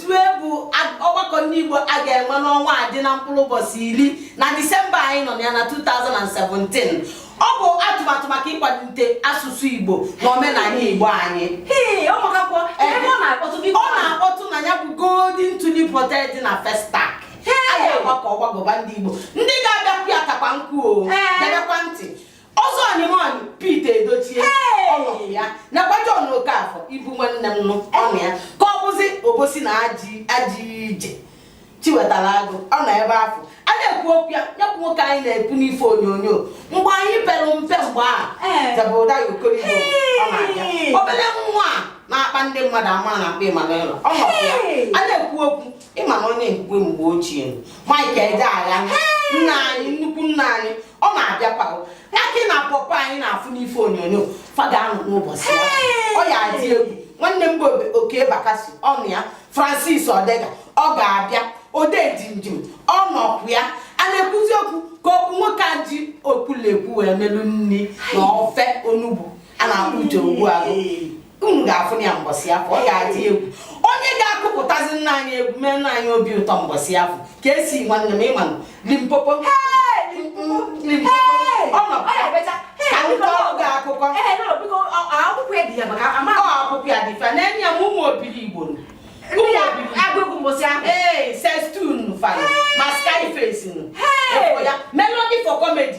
zue bụ ọgbakọ ndị Igbo a ga-enwe n'ọnwa a dị na mkpụrụ ụbọchị iri na Disemba anyị nọ ya na 2017 ọ bụ atụmatụ maka ịkwalite asụsụ Igbo na omenala Igbo anyị ọ na-akpọtụ na ya bụ Golden Tulip Hotel dị na Festac a ga-agbakọ ọgbagọba ndị Igbo ndị ga-abịakwu ya takwa nkụ o ọzọ ọnịmọn Pete Edochie ọ nọkwu ya nakwa John Okafọ ibu nwanne mụ ọ nọ ya ka ọ bụzi obosi na ajị ije Chiwetalu Agụ ọ nọ ebe afụ a na-ekwu okwu ya nyekwu nwoke anyị na-ekwu n'ife onyonyo mgbe anyị pere mpe mgbe a Zebrudaya Okoroigwe ọ na-abịa obere nwa na-akpa ndị mmadụ amụ a na-akpọ Emmanuella ọ nọkwa ya a na-ekwu okwu ị ma na onye nkwe mgbe ochie Mike Ejeagha nna anyị nnukwu nna anyị ọ na-abịakwa Akị na Pawpaw anyị na-afụ n'ife onyonyo fa ga-anọ n'ụbọchị ya ọ ya adị egwu nwanne m bụ Okey Bakassi ọ nọ ya Francis Odega ọ ga-abịa Odejimjim ọ nọkwu ya a na-ekwuzi okwu ka okwu nwoke a ji okwulekwu wee melu nri na ofe onugbu a na-akpọ Uche Ogbua unu ga-afụ ya mbọsị afụ ọ ga-adị egwu onye ga-akụpụtazi nna anyị egwu mee nna anyị obi ụtọ mbọsị afụ Kcee nwanne m ị manụ Limpopo ọ nọ ka ndị ọrụ gị akụkọ akwụkwọ ya dị fa na-enye ya ma Ụmụ Obiligbo ee sestun fa ma skyface nọ ya melody for comedy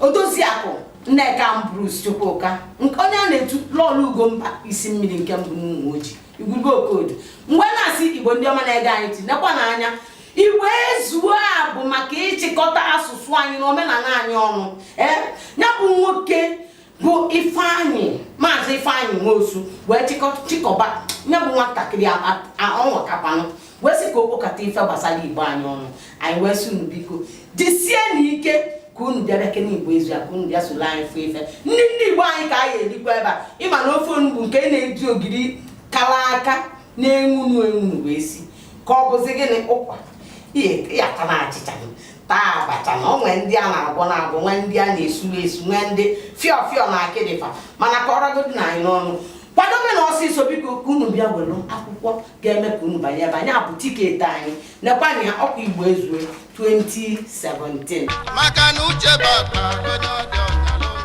odoziakụ Nneka Ambrose Chukwuka onye a na-etu lọọlọ ugomba isi mmiri nke mbụ n'Ụmụoji igwurube okodu m wee na-asị igbo ndị ọma na-ege anyị ntị nekwa na anya igbo ezuo a bụ maka ịchịkọta asụsụ anyị na omenala anyị ọnụ ee ya bụ nwoke bụ ifeanyị maazị ifeanyị nwosu wee chịkọba ya bụ nwatakịrị ọ nwakakwanụ wee sị ka o kpokọta ife gbasara igbo anyị ọnụ anyị wee sị unu biko jisie na ike ka unu bịa bịa kene igbo ezue ka unu bịa soro anyị fụ ife ndị ndị igbo anyị ka anyị erikwa ebe a ị ma na ofe onugbu nke na-eji ogiri kara aka na-enwunu enwunu wee si ka ọ bụzi gịnị ụkwa ya ka na achịcha taa abacha na o nwee ndị a na-agwọ na-agwọ nwee ndị a na-esu esu nwee ndị fịọfịọ na akịdị fa mana ka ọrọgodi na anyị n'ọnụ kwadobe na ọsịsọ biko ka unu bịa were akwụkwọ ga-eme ka unu banye ebe a ya bụ tiketi anyị nekwanụ ya ọkwa igbo ezue 2017 maka na uche baba